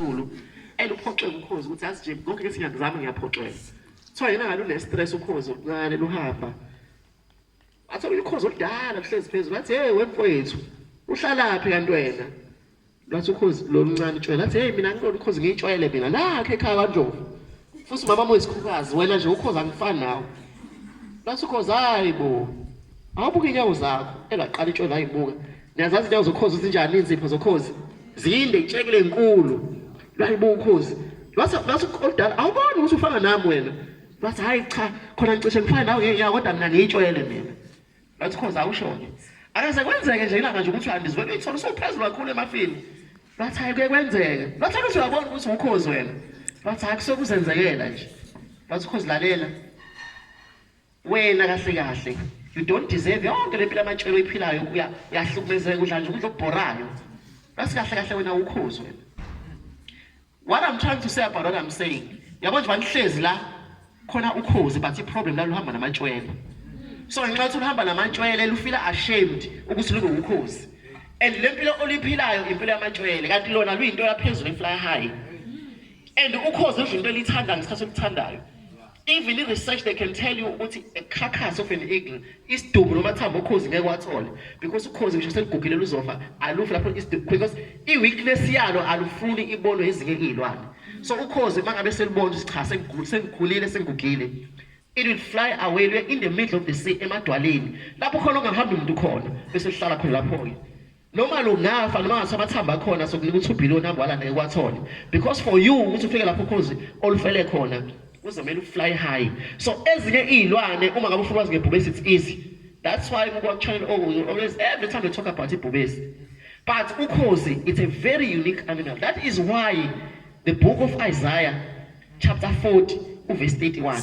Zulu eluphoxwe ukhozi ukuthi azi nje konke ke singakuzama ngiyaphoxeka kuthiwa yena ngalo unestress ukhozi oluncane luhamba athola ukhozi oludala luhlezi phezulu athi hey wemfowethu uhlalaphi kanti wena lwathi ukhozi loluncane utshwele athi hey mina ngilona ukhozi ngiyitshwele mina lakhe ekhaya kandlovu Futhi umama wami uyisikhukazi wena nje ukhoza angifani nawe. Bathi ukhoza hayi bo. Awubuke inyawo zakho engaqala itshwele ayibuka. Niyazazi inyawo zokhozi zinjani inzipho zokhozi? Zinde itshekile enkulu. Layibuka ukhozi. Base base kodala awuboni ukuthi ufana nami wena. Bathi hayi cha khona ngicishe ngifana nawe ngeke kodwa mina ngiyitshwele mina. Ngathi khoza awushoni. Akaze kwenzeke nje ilanga nje ukuthi uhambe izivele uyithola usuphezulu kakhulu emafini. Ngathi hayi kuye kwenzeke. Ngathi ukuthi uyabona ukuthi ukhozi wena. Ngathi hayi kusokuzenzekela nje. Ngathi ukhozi lalela. Wena kahle kahle you don't deserve yonke le mpilo amatshelo oyiphilayo uyahlukumezeka udla nje ukudla okubhorayo. Ngathi kahle kahle wena ukhozi wena. What I'm trying to say about what I'm saying. Yabo nje banihlezi la khona ukhozi but iproblem la luhamba namantshwele. So ngenxa ukuthi luhamba namantshwele lufila ashamed ukuthi lube ukhozi. And le mpilo oliphilayo impilo yamantshwele kanti lona luyinto yaphezulu efly high. And ukhozi udla into elithanda ngesikhathi olithandayo. even i-research they can tell you ukuthi a carcass of an eagle isidumbu noma thambo ukhozi ngeke wathole because ukhozi ngisho selugugile luzofa alufi lapho isidumbu because i-weakness yalo alufuni ibonwe ezinye iy'lwane so ukhozi uma ngabe selibona ukuthi cha sengikhulile sengigugile it will fly away luye in the middle of the sea emadwaleni lapho khona ongahambi umuntu khona bese lihlala khona lapho-ke noma lungafa noma ngathiwa amathambo akhona sokunika u-two billion hambe walanda ekwathola because for you ukuthi ufike lapho ukhozi olufele khona kuzomele ufly high so ezinye iy'lwane uma ngabe ufuna wazi ngebhubesi it's easy that's why kukwakutshayela oh, always every time they talk about ibhubesi but ukhozi it's a very unique animal that is why the book of isaiah chapter 40 uverse 31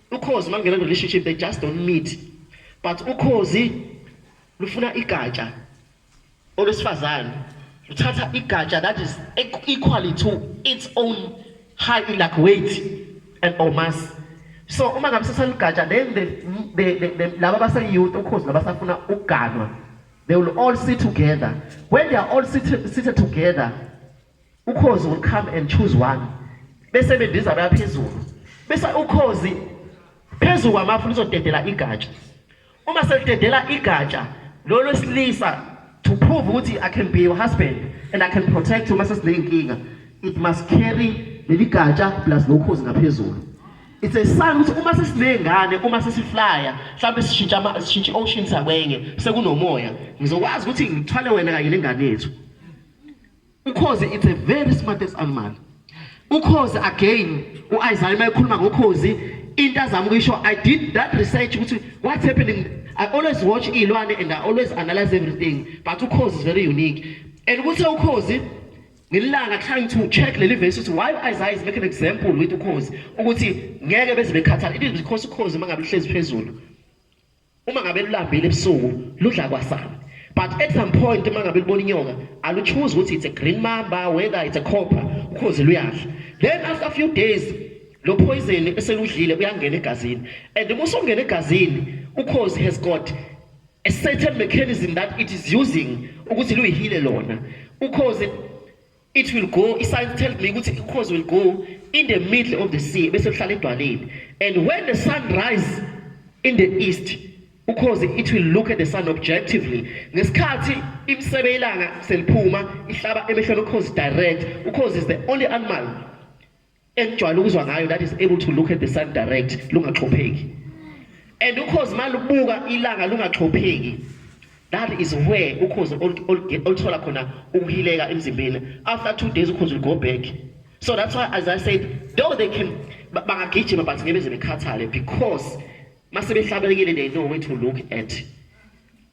Ukhozi uma kungena relationship they just don't meet but ukhozi lufuna igatsha olwesifazane luthatha igatsha that is equally to its own high enough weight and or mass so uma ngabe sesaligatsha then the, the, the, the, laba baseyouth ukhozi nabasafuna ukuganwa they will all sit together when they are all sit, seated together Ukhozi will come and choose one. Bese bendiza baya phezulu. Bese ukhozi phezulu kwamafu lizodedela igatsha. Uma selidedela igatsha lo lwesilisa to prove ukuthi I can be your husband and I can protect you mase sinenkinga. It must carry leli gatsha plus lokhozi ngaphezulu. It's a sign ukuthi uma sesinengane uma sesiflya mhlawumbe sishintsha sishintsha ocean sakwenye sekunomoya ngizokwazi ukuthi ngithwale wena kanye nengane yethu. Ukhozi it's a very smartest animal. Ukhozi again uIsaiah mayekhuluma ngokhozi into azama ukuyisho I did that research ukuthi what's happening I always watch ilwane and I always analyze everything but ukhozi is very unique and ukuthi ukhozi ngilanga trying to check leli verse ukuthi why Isaiah is making an example with ukhozi ukuthi ngeke beze bekhathala it is because ukhozi mangabe lihlezi phezulu Uma ngabe lulambile ebusuku ludla kwasana. But at some point uma ngabe libona inyoka aluchoose ukuthi it's a green mamba whether it's a copper ukhozi luyadla. Then after a few days lo poison eseludlile uyangena egazini and uma usongena egazini ukhozi has got a certain mechanism that it is using ukuthi luyihile lona. Ukhozi It will go, i-science tells me ukuthi i-cause will go in the middle of the sea bese kuhlala edwaleni and when the sun rise in the east because it will look at the sun objectively ngesikhathi imisebe ilanga seliphuma ihlaba emehlweni ukhozi direct ukhozi is the only animal engijwayele ukuzwa ngayo that is able to look at the sun direct lungaxhopheki and ukhozi malubuka ilanga lungaxhopheki that is where ukhozi oluthola khona ukuhileka emzimbeni after two days ukhozi will go back so that's why as i said though they can bangagijima but ngebe ze bekhathale because masebehlabelekile they know where to look at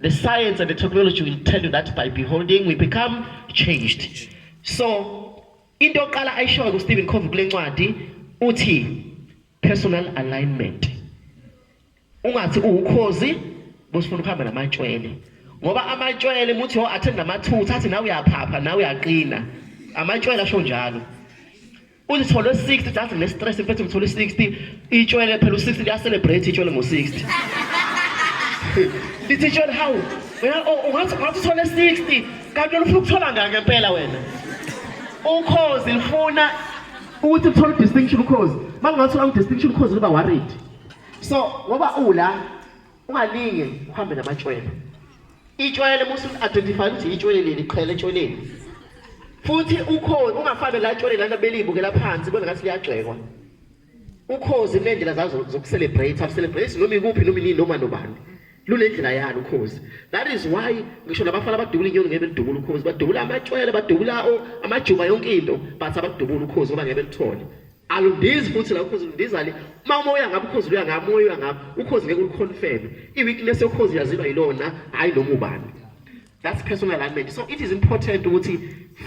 The science and the technology will tell you that by beholding we become changed. So into yokuqala ayishoyo kuStephen Covey kule ncwadi uthi personal alignment. Ungathi uwukhozi bosifuna ukuhamba namatshwele. Ngoba amatshwele muthi ho oh, athenda amathutha athi nawe uyaphapha nawe uyaqina. Amatshwele asho njalo. Uzithole 60 just ne stress mfethu ngithole 60 itshwele phela u60 liya celebrate itshwele ngo 60. Lithi itshwele how? Wena oh, ungathi ungathi uthole 60 kanti wena ufuna ukuthola ngani ngempela wena? Ukhozi lifuna ukuthi uthole distinction ukhozi. Mangathi unga distinction ukhozi uba worried. So ngoba ula Ungalinge uhambe namatshwele. Itshwele musu identify ukuthi itshwele leli qhele etshweleni. Futhi ukhozi ungafane la tshwele lana belibuke la phansi bona ngathi liyagxekwa. Ukhozi kunendlela zazo zokucelebrate, ucelebrate noma ikuphi noma inini noma nobani. Lunendlela yalo ukhozi. That is why ngisho nabafana abadubula inyoni ngeke belidubula ukhozi, badubula amatshwele, badubula amajuba yonke into, but abadubula ukhozi ngoba ngeke belithole. alundizi futhi la ukhozi lundizali uma uma uya ngapha ukhozi luya ngapha uya ngapha ukhozi ngeke uliconfirm i-weakness yokhozi yaziba yilona hhayi noma ubani that's personal alignment so it is important ukuthi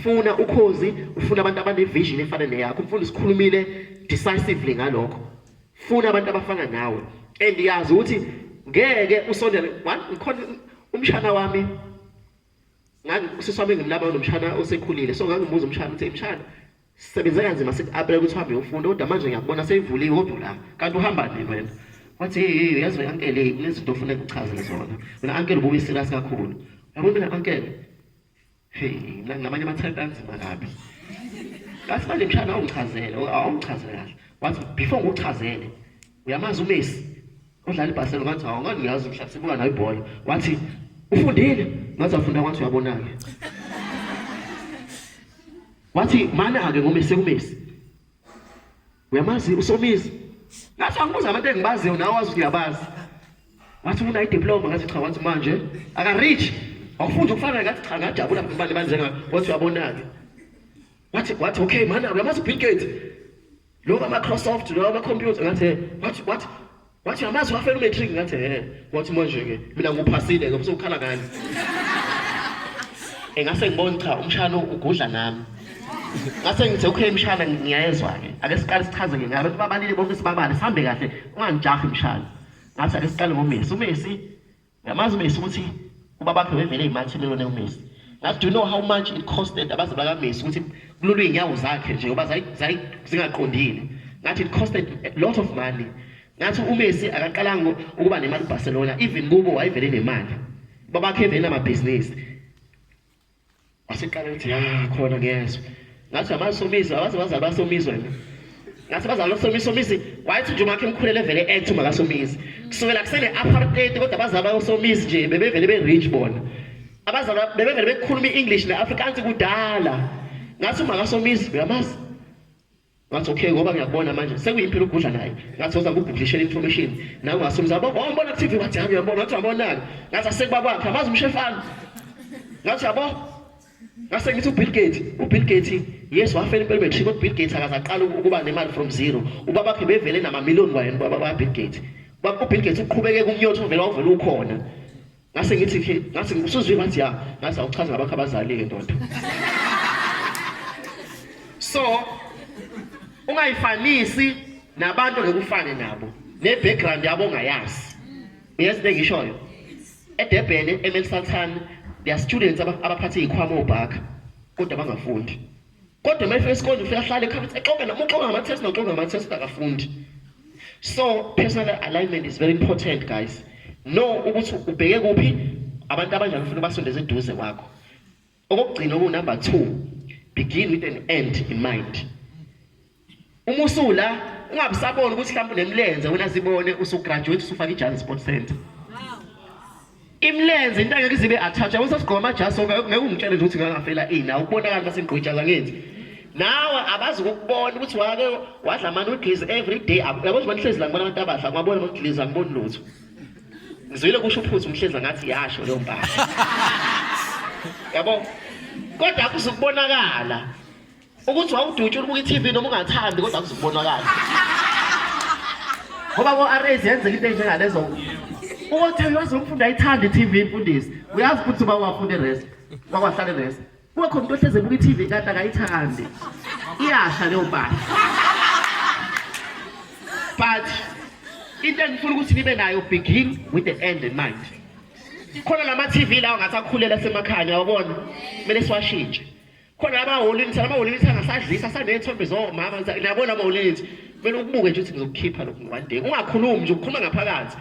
funa ukhozi ufuna abantu abanevision efana neyakho umfundi sikhulumile decisively ngalokho funa abantu abafana nawe and yazi ukuthi ngeke usondele ngikhona umshana wami ngangusisi wami ngimlaba nomshana osekhulile so ngangimuza umshana ukuthi mshana Sisebenze kanzima sithi apele ukuthi uhambe ufunde kodwa manje ngiyakubona seyivuliwe kodwa la kanti uhamba nini wena? Wathi hey yazi wena uncle kunezinto ofuna kuchazele zona. Wena uncle ubuye serious kakhulu. Yabo mina uncle hey ngamanye amathayiphi anzima kabi. Ngathi manje mshana awungichazele awungichazele kahle. Wathi before ngikuchazele uyamazi uMessi udlala iBarcelona ngathi hawu ngani ngiyazi mhlawumbe sibuka nayo ibhola. Wathi ufundile ngathi afunda kwathi uyabonake. Wathi mana-ke ngomesi ekumesi. Uyamazi uSomizi? Ngathi angibuza abantu engibaziyo nawe wazi ukuthi uyabazi. Wathi ufuna idiploma ngathi cha wathi manje aka-reach. Awufunda ukufana ngathi cha ngajabula mfana banjengami. Wathi uyabona-ke. Wathi wathi okay mana uyamazi uBill Gates? Lo ka Microsoft lo ka computer ngathi what what what yamazi wafela umatric ngathi he wathi manje ke mina ngiphasile ke usukhala ngani engase ngibone cha umshana ugudla nami ngase ngithe okay mshana ngiyayezwa ke ake siqale sichaze ke ngabe babalile bonke sibabale sihambe kahle ungangijahi mshana ngathi ake siqale ngomesi umesi Yamazi uMessi ukuthi ubabakhe wevele imansi lelone uMessi. Ngathi do you know how much it costed abaze baka Messi ukuthi kulolu inyawo zakhe nje ngoba zayi zingaqondile. Ngathi it costed a lot of money. Ngathi uMessi akaqalanga ukuba nemali Barcelona even kubo wayevele nemali. Babakhe vele amabhizinisi. Waseqala ukuthi ya khona ngiyezwa. Ngathi abasomizi abaze baze abasomizwe. Ngathi bazalo somiso mizi wayethi nje umakhe emkhulele vele ethi makasomizi. Kusukela kusele apartheid kodwa bazaba osomizi nje bebevele be rich bona. Abazalwa bebevele bekhuluma iEnglish neAfrikaans kudala. Ngathi umakasomizi uyamazi. Ngathi okay ngoba ngiyakubona manje sekuyimpilo ukugudla naye. Ngathi oza kuguglishela information. Nawe ngasumza yabo oh mbona ku TV wathi hayi uyabona wathi wabonaka. Ngathi asekuba kwakhe amazi umshefana. Ngathi yabo ngase ngithi uBill Gates uBill Gates yes wafela impela bethu kodwa uBill Gates akazaqala ukuba nemali from zero. Ubaba bakhe bevele nama million kwayena ubaba baBill Gates. Baba uBill Gates uqhubeke kumnyotho vele wavela ukhona. ngase ngithi ke ngase ngibusuzwe ngathi ya ngase awuchaza ngabakho abazali ke ndoda so ungayifanisi nabantu ngekufane nabo ne background yabo ongayazi uyazi into engishoyo edebhele emelsaltan there are students abaphathe ikhwama obhaka kodwa bangafundi kodwa uma efika esikoleni ufika ahlale ekhabethe exoke noma uxoka ngama-test noxoka ngama-test akafundi so personal alignment is very important guys no ukuthi ubheke kuphi abantu abanjani ufuna ubasondeze eduze kwakho okokugcina okuwunumber two begin with an end in mind Uma usula ungabusaboni ukuthi mhlawumbe unemlenze wena zibone usugraduate usufaka ijazi sport center. Imlenze into angeke zibe attach. Awusa sigqoma amajasi sonke ngeke ungitshele nje ukuthi ngangafela ini. Awubonakala base ngigqojaza ngenzi. Nawe abazi ukubona ukuthi wake wadla ama noodles every day. Yabo nje manihlezi la ngibona abantu abadla ngabona ama noodles angiboni lutho. Ngizwile kusho uphuzo umhlezi ngathi yasho leyo mpahla. Yabo? Kodwa akuzukubonakala. ukuthi wawudutshula ubuka i-tv noma ungathandi kodwa kuzokubonakala ngoba ko-rs yenzeka into enjengalezo ukuthi uyazi umfundi ayithanda i-tv imfundisi uyazi ukuthi uba wafunda irest wakwahlala irest kube khona into ohleze buka i-tv kanti akayithandi iyasha leyo mpahla but into engifuna ukuthi nibe nayo begin with the end in mind khona lama-tv lawo ngathi akhulela asemakhaya uyawabona kumele siwashintshe khona abaholinisa abaholinisa angasadlisa asaney'thombe zomama nabo labo holinisa kumele ukubuke nje ukuthi ngizokukhipha lokhu one day ungakhulumi nje ukhuluma ngaphakathi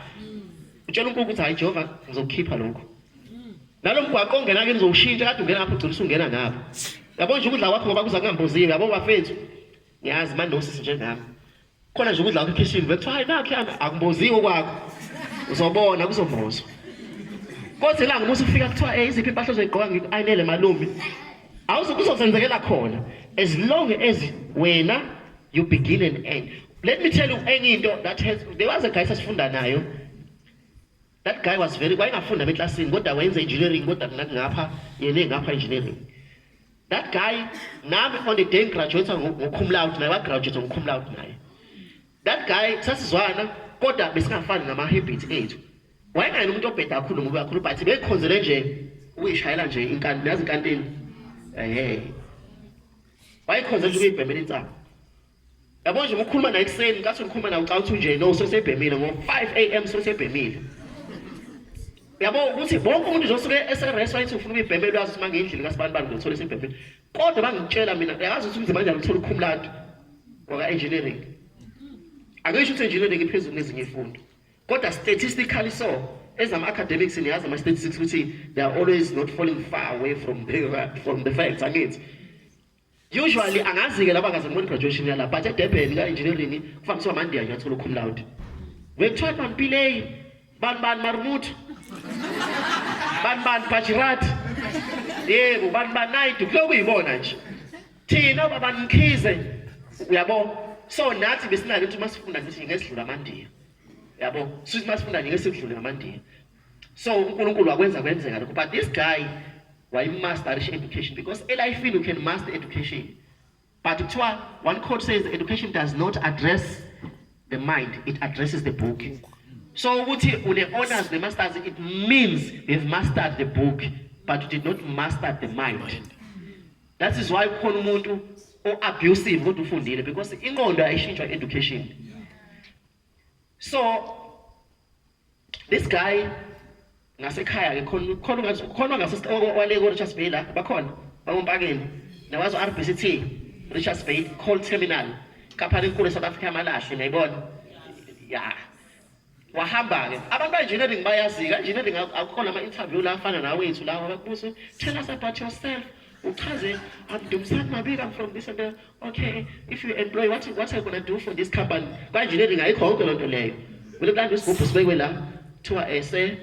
utshela unkulunkulu ukuthi hhayi jehova ngizokukhipha lokhu nalo mgwaqo ongena ke ngizowushintsha kade ungena ngapho ugcina usungena ngapho yabo nje ukudla kwakho ngoba kuza kungambuziwe yabo bafethu ngiyazi manosisi njenami khona nje ukudla kwikhishini bekuthiwa hayi nakhe akumboziwe kwakho uzobona kuzobuzwa kodwa ilanga umusa ufika kuthiwa um eh, iziphi impahla ozoyigqoka ngiku-ayinele malumi kuzosenzekela khona as long as wena you begin and end let me tell you enye into that has there was a guy sasifunda nayo That guy was very wayengafunda beklasini kodwa wayenza engineering kodwa mina ngapha yena engapha engineering. That guy nami on the day graduate ngokhum loud naye wa graduate ngokhum loud naye. That guy sasizwana kodwa besingafani ngama habits ethu. Wayengayena umuntu obheda kakhulu ngoba kakhulu but bekhonzele nje uyishayela nje inkantini yazi inkantini. Eh. Wayekhonzela ukuyibhemela insaba. Yabo nje ukukhuluma naye ekuseni kathi ukhuluma nawe ucawuthi nje no sesebhemile ngo 5 am sesebhemile. Yabo ukuthi bonke umuntu uzosuke eserest wayithi ufuna ukuyibhemela uyazi ukuthi mangindlini kasibani bani ngizothola isebhemile. Kodwa bangitshela mina uyazi ukuthi umzimba kanjani uthola ukhumlado waka engineering. Ake isho ukuthi engineering iphezulu nezinye ifundo. Kodwa statistically so ezama academics niyazi ama statistics ukuthi they are always not falling far away from the from the facts angithi. Usually angazi-ke laba kaze ngibona i-graduation yala but edurban ka-engineering kuvamiswa amandiya nje athola ukhum loud bekuthiwa mampilei bani bani marumutu bani bani bajirati yebo bani bani naidu kuloku yibona nje thina babani mkhize uyabo so nathi besinalo ukuthi uma sifunda ngithi ngeke sidlule amandiya yabo sithi uma sifunda ngeke sidlule ngamandiya So uNkulunkulu wakwenza kwenzeka lokho but this guy wayimasterisha education because elifini you can master education but kuthiwa one quote says education does not address the mind it addresses the book so ukuthi une-honors ne-masters it means you've mastered the book but you did not master the mind that is why kukhona umuntu o-abusive kodwa ufundile because inqondo ayishintshwa education so This guy ngasekhaya ke khona khona ngathi khona ngase wale ko Richards Bay la bakhona bakompakeni nawazo RBCT Richards Bay Coal Terminal kapha lenkulu South Africa amalahle ngiyibona ya wahamba ke abantu engineering bayazi ka engineering akukho lama interview la afana nawe wethu lawa bakubuza tell us about yourself uchaze I'm Dumsani Mabika I'm from this and that Okay, if you employ what what are you going to do for this company? Kwa engineering ayikho yonke lonto leyo. Wena kanti isigubhu sibekwe la kuthiwa ese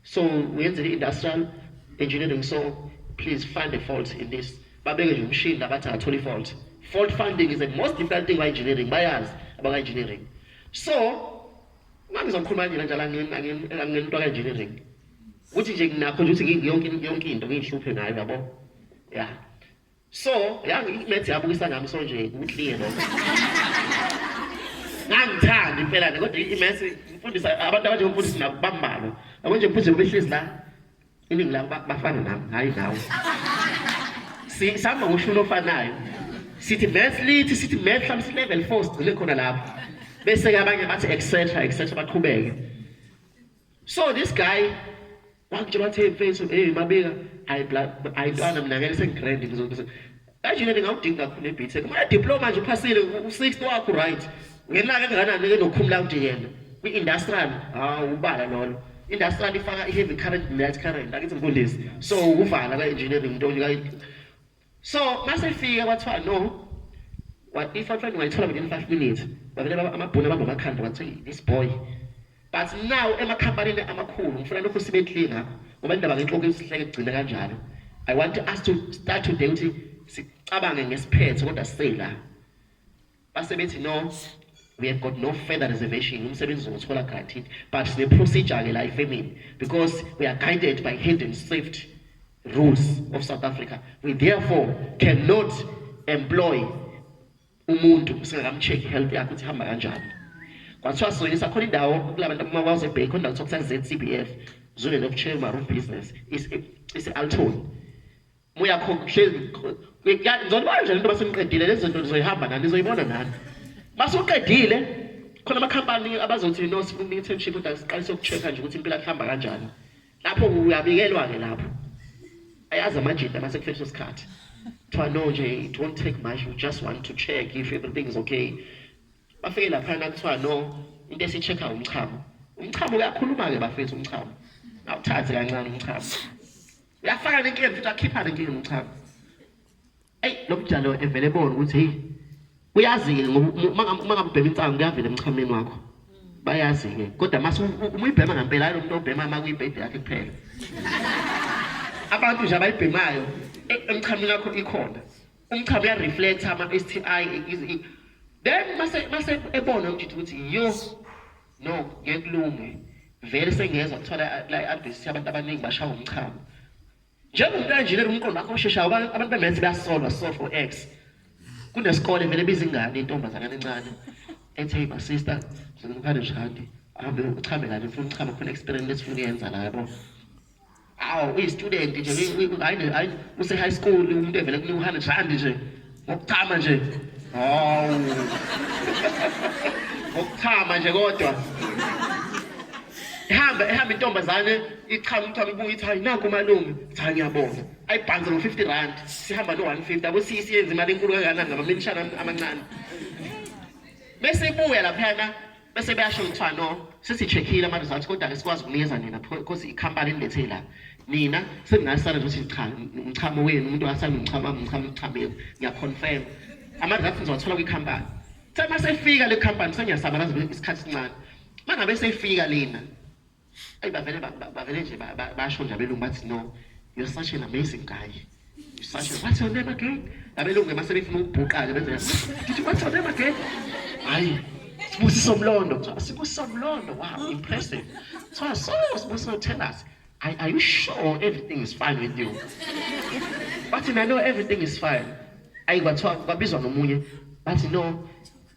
so uyenze industrial engineering so please find a fault in this. Babeke nje umshini labathi athole fault. Fault finding is the most difficult thing by engineering bayazi abaka engineering. So mangizokhuluma nje kanjalo angin angin angin into ka engineering. Ukuthi nje nginakho ukuthi ngiyonke yonke into ngiyihluphe ngayo yabo. Yeah. So, yazi imaths yabukisa nami so nje uclear lo. Ngangithanda impela nje kodwa imaths ngifundisa abantu abanje ngifundisa nabo bambalo. Yabo nje mfundisi ubehlezi la. Iningi labo ba- bafana nami, hayi nawe. Si- Sihamba ngoshuni ofanayo. Sithi maths lithi sithi maths hlambe si level 4 sigcine khona lapho. Bese ke abanye bathi etc etc baqhubeke. So this guy bakutshela wathi hey mfethu hey mabika hayi bla hayi ntwana mina ngeke sengigrand ngizokuthi kanjena ndingawudingi kakhulu ebeat set uma diploma nje uphasile u60 wakho right ngenaka engakanani ke nokhumula ukuthi yena kwi industrial ah ubala lolo industrial ifaka i heavy current net current akithi mfundisi so ukuvala ka engineering into ka so masifika kwathiwa no what if athiwa ngingayithola within 5 minutes bavele baba amabhunu abamba amakhanda wathi this boy but now emakhampanini amakhulu ngifuna lokhu sibe clear ngakho ngoba indaba ngenhloko isihleke kugcina kanjalo i want us to start today ukuthi sicabange ngesiphetho kodwa siseyila Base bethi no we have got no further reservation umsebenzi uzowuthola guaranteed but sine procedure ke la efemini because we are guided by hidden safety rules of South Africa we therefore cannot employ umuntu singakamcheck health yakhe ukuthi hamba kanjani kwathiwa sonye sakhona indawo kulabantu abamawaze bay khona kuthiwa kusa ZCBF zone of chair maroon business is is Alton Muyakhokha hlezi ngizonibona nje lento baseniqedile lezi zinto nizoyihamba nani nizoyibona nani. Masuqedile khona amakhampani abazothi no sifuna internship kodwa siqalise ukuchecka nje ukuthi impela kuhamba kanjani. Lapho uyabikelwa ke lapho. Ayazi amajita mase kufethe isikhathi. Kuthiwa no nje it won't take much we just want to check if everything is okay. Bafike lapha kuthiwa no into esichecka umchamo. Umchamo uyakhuluma ke bafethu umchamo. Awuthathi kancane umchamo. Uyafaka le nkemvu futhi akhipha le nkemvu cha. Ey lo mjalo evele bona ukuthi hey uyazi-ke uma ngabe ubhema insangu kuyavela emchameni wakho bayazi-ke kodwa mase umuyibhema ngampela hayi lo muntu obhema uma kuyibhede yakhe kuphela abantu nje abayibhemayo e, emchameni wakho ikhona umchamo uyareflecta ama-s t i then mase ebona umjithi ukuthi yo No, ngeke kulunge. Vele sengiyezwa kuthiwa la i-advert ithi abantu abaningi bashawa umchamo. Njengomuntu engineer umqondo wakho osheshayo abantu abantu bemenzi bayasolwa solve for X. Kunesikole vele biza ingane intombazana encane ethi hey my sister ngizokupha nje handi ahambe uchame la ngifuna uchama khona experience lesifuna uyenza la yabo. awu uyi-student nje hayi use-high school umuntu evele kunika u-hundred rand nje ngokuchama nje hawu ngokuchama nje kodwa ihamba ehamba intombazane ichama umthwalo ubuye ithi hayi naku malume cha ngiyabonga ayibhanze ngo-fifty rand sihamba no-one fifty abo sisi yenza imali enkulu kangakanani ngamaminishana amancane bese ibuya laphana bese beyasho kuthiwa no sesi-check-ile ama-results kodwa-ke sikwazi ukunikeza nina because ikhampani enilethe la nina seningasala nje ukuthi cha umchamo wenu umuntu akasala nomchamo wami umchamo umchamo yenu ngiyaconfirm ama-results ngizowathola kwikhampani kuthe uma sefika le khampani sengiyasabalaza isikhathi esincane uma ngabe seyifika lena Ay bavele bavele nje basho nje abelungu bathi no you're such an amazing guy. You're such a what's your name again? Abelungu mase befuna ukubhuqaka benze did you what's your name again? Hayi Sibusiso Mlondo. Sibusiso Mlondo. Wow, impressive. So I saw Sibusiso tell us, are, are you sure everything is fine with you? But I know everything is fine. Ayi kwathiwa kwabizwa nomunye bathi no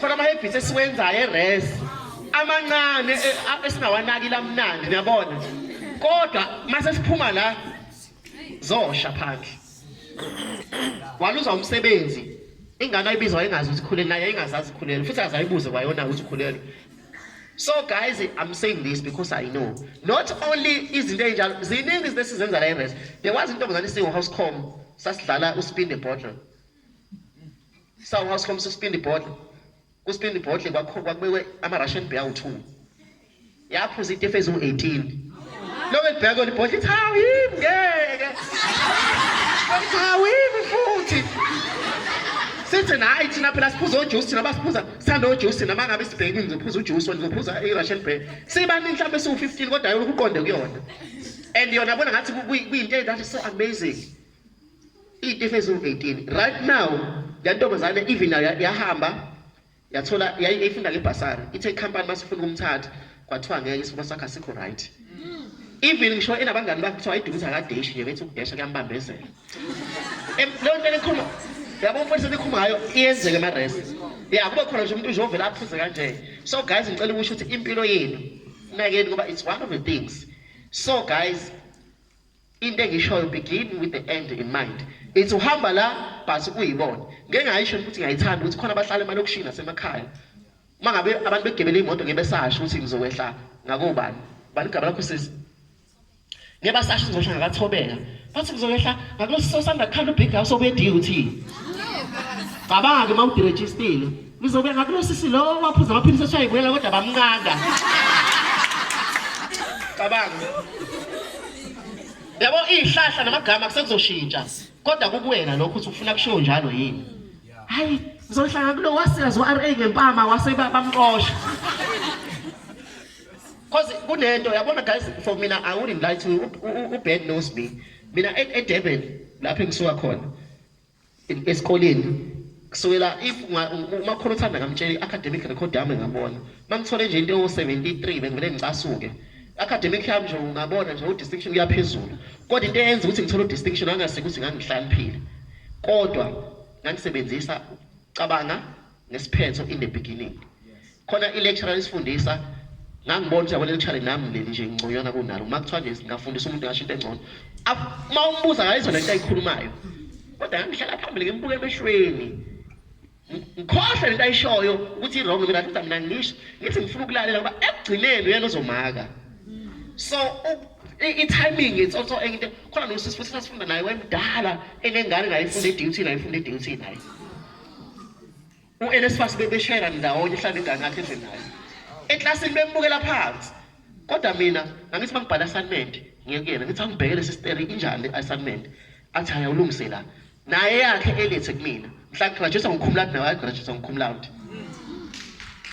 Faka amahebhisi esiwenzayo eres amancane e, esingawanaki lamnandi niyabona kodwa mase siphuma la zosha phandle waluza umsebenzi ingane ayibizwa engazi ukuthi khulele naye ingazazi khulele futhi azayibuze kwayona ukuthi khulele so guys i'm saying this because i know not only izinto ezinjalo ziningi izinto esizenza la eres there was intombazane isiwu house com sasidlala uspin the bottle Sawu house from sisipindi bhodle. Kusipindi bhodle kwakho kwakubekwe ama Russian beer u2. Yaphuza itefe eziwu18. Lobe libheka kona ibhodle ithi hawu yimi ngeke. Ithi hawu yimi futhi. Sithi nayi thina phela siphuza ojuice thina basiphuza sithanda ojuice nama ngabe sibhekile ngizophuza ujuice ngizophuza i Russian beer. Sibaningi mhlawumbe siwu15 kodwa yona ukuqonde kuyona. And yona bona ngathi kuyinto that is so amazing. Iyinto efezulu 18 right now le ntombazane even nayo yahamba yathola yayifunda ngebhasari ithe ikhampani masifuna ukumthatha kwathiwa ngeke isifuna sakhe asikho right even ngisho enabangani bakhe kuthiwa idukuza kadeshi nje bethi ukudesha kuyambambezela leyo nto elikhuluma yabo mfundisi elikhuluma ngayo iyenzeke emaresi ya kube khona nje umuntu uzovela aphuze kanje so guys ngicela ukusho ukuthi impilo yenu nakeni ngoba it's one of the things so guys Into engiyishoyo begin with the end in mind. It's uhamba la but uyibone. Ngeke ngayisho ukuthi ngiyayithanda ukuthi khona abahlala emalokishini nasemakhaya. Uma ngabe abantu begebele imoto ngeke besasho ukuthi ngizowehla ngakobani. Bani igaba lakho sisi? Ngeke basasho ngizosho ngakathobeka. Bathi ngizowehla ngakulosisosanda khanda ubig house obediyo uthi. Cabanga uma udirejistile. Ngizokuya ngakulosisi lowo waphuza amaphilisi athiwa yibuyela kodwa bamnqanda. Cabanga. Yabo izihlahla namagama kusekuzoshintsha. Kodwa kukuwena lokho ukuthi ufuna kushiwo njalo yini. Hayi, ngizohlanga kulo wasiyazi uRA ngempama wase bamqosha. Cause kunento yabona guys for mina I wouldn't lie to you. U bad knows me. Mina eDurban lapho engisuka khona. esikoleni kusukela if umakhulu uthanda ngamtshela i-academic record yami ngabona mangithole nje into ewu-73 bengivele ngicasuke academic yami nje ungabona nje udistinction kuyaphezulu kodwa into eyenza ukuthi ngithole udistinction angasike ukuthi ngangihlaniphile kodwa ngangisebenzisa cabanga ngesiphetho in the beginning khona ilecturer lisifundisa ngangibona ukuthi yabo lecturer nami leli nje ngconywana kunalo uma kuthiwa nje ngafundisa umuntu ngasho into engcono uma umbuza ngalezo lento ayikhulumayo kodwa ngihlala phambili ngimbuke emehlweni ngikhohlwe lento ayishoyo ukuthi i-wrong mina futhi mina ngisho ngithi ngifuna ukulalela ngoba ekugcineni uyena ozomaka so i-timing it's also enye into khona nosisi futhi sasifunda naye wemdala enengane naye ifunda i-duty naye ifunda i-duty naye uNSFAS bebeshayela ndawonye uhlala ingane yakhe endlini naye eklasini bembukela phansi kodwa mina ngangithi uma ngibhala assignment ngiye kuyena ngithi angibhekele sisteri injani le assignment athi hhayi awulungise la naye yakhe elethe kumina mhla ngigraduate ngikhumulani nawe agraduate ngikhumulani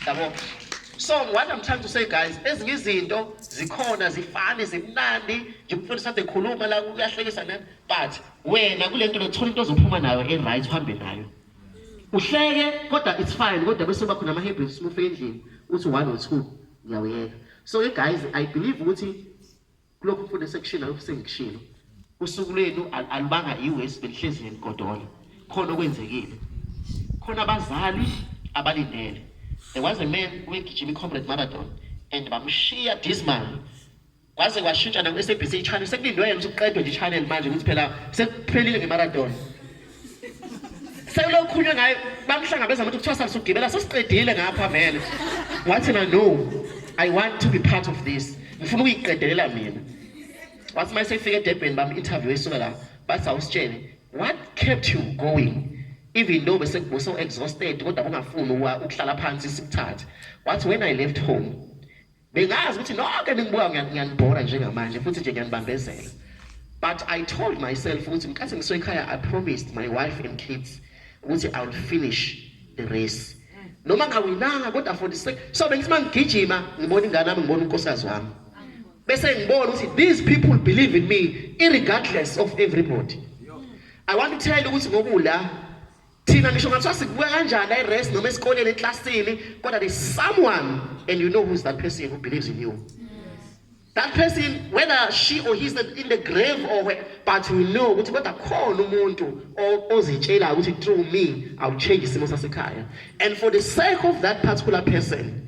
yabo so what i'm trying to say guys ezinye izinto zikhona zifane zimnandi nje umfundisi ade khuluma la uyahlekisa nani but wena kule nto lethola into ozophuma nayo e-right uhambe nayo uhleke kodwa it's fine kodwa bese kuba khona ama-habits uma ufika endlini uthi one or two ngiyawuyeka so ke guys i believe ukuthi kulokhu mfundo sekushilo lokhu sengikushilo usuku lwenu alubanga iwesi belihlezi nenigodola khona okwenzekile khona abazali abalindele there was a man wegijima i-comrade marathon and bamshiya dismal Kwaze kwashintsha na SABC ichannel sekulindwe yena ukuthi kuqedwe nje channel manje ukuthi phela sekuphelile ngemarathon. Sekulokhunye ngaye bamhlangabeza ukuthi kuthiwa sasugibela sesiqedile ngapha vele. Wathi na no I want to be part of this. Ngifuna ukuyiqedelela mina. Wathi mase efike eDurban bam interview esuka la bathi awusitshele what kept you going? even though bese kubuso exhausted kodwa bungafuni ukuhlala phansi sikuthathe wathi when i left home Ningazi ukuthi nonke ningibuka ngiyanibhora njengamanje futhi nje ngiyanibambezela. But I told myself ukuthi nkathi ngisekhaya I promised my wife and kids ukuthi I will finish the race. Noma ngawinanga kodwa for the sake so bengithi mangigijima ngibona ingane yami ngibona unkosikazi wami. Bese ngibona ukuthi these people believe in me irregardless of everybody. I want to tell you ukuthi ngokula Thina ngisho ngathiwa sikubuka kanjani i-rest noma esikoleni eklasini kodwa there's someone and you know who's that person who believes in you. That person whether she or he's in the grave or where, but we know ukuthi kodwa khona umuntu ozitshelayo ukuthi through me I'll change isimo sasekhaya. And for the sake of that particular person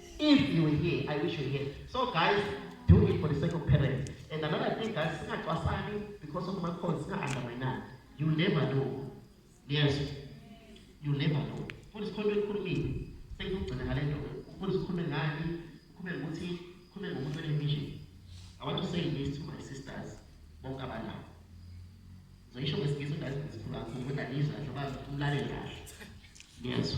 If you were here, I wish you were here. So guys, do it for the sake of parents. And another thing guys, singacwasani because of my cause, singa-underminani. You never know. Yes. You never know. Futhi sikhona ekukhulumile. Sengizogcina ngale nto. Futhi sikhulume ngani? Sikhulume ngokuthi sikhulume ngomuntu onemission. I want to say this to my sisters bonke abanayo. Ngizoyisho ngesingisi ngazi ngizikhuluma ukuthi angizwa njengoba umlaleli kahle. Yes.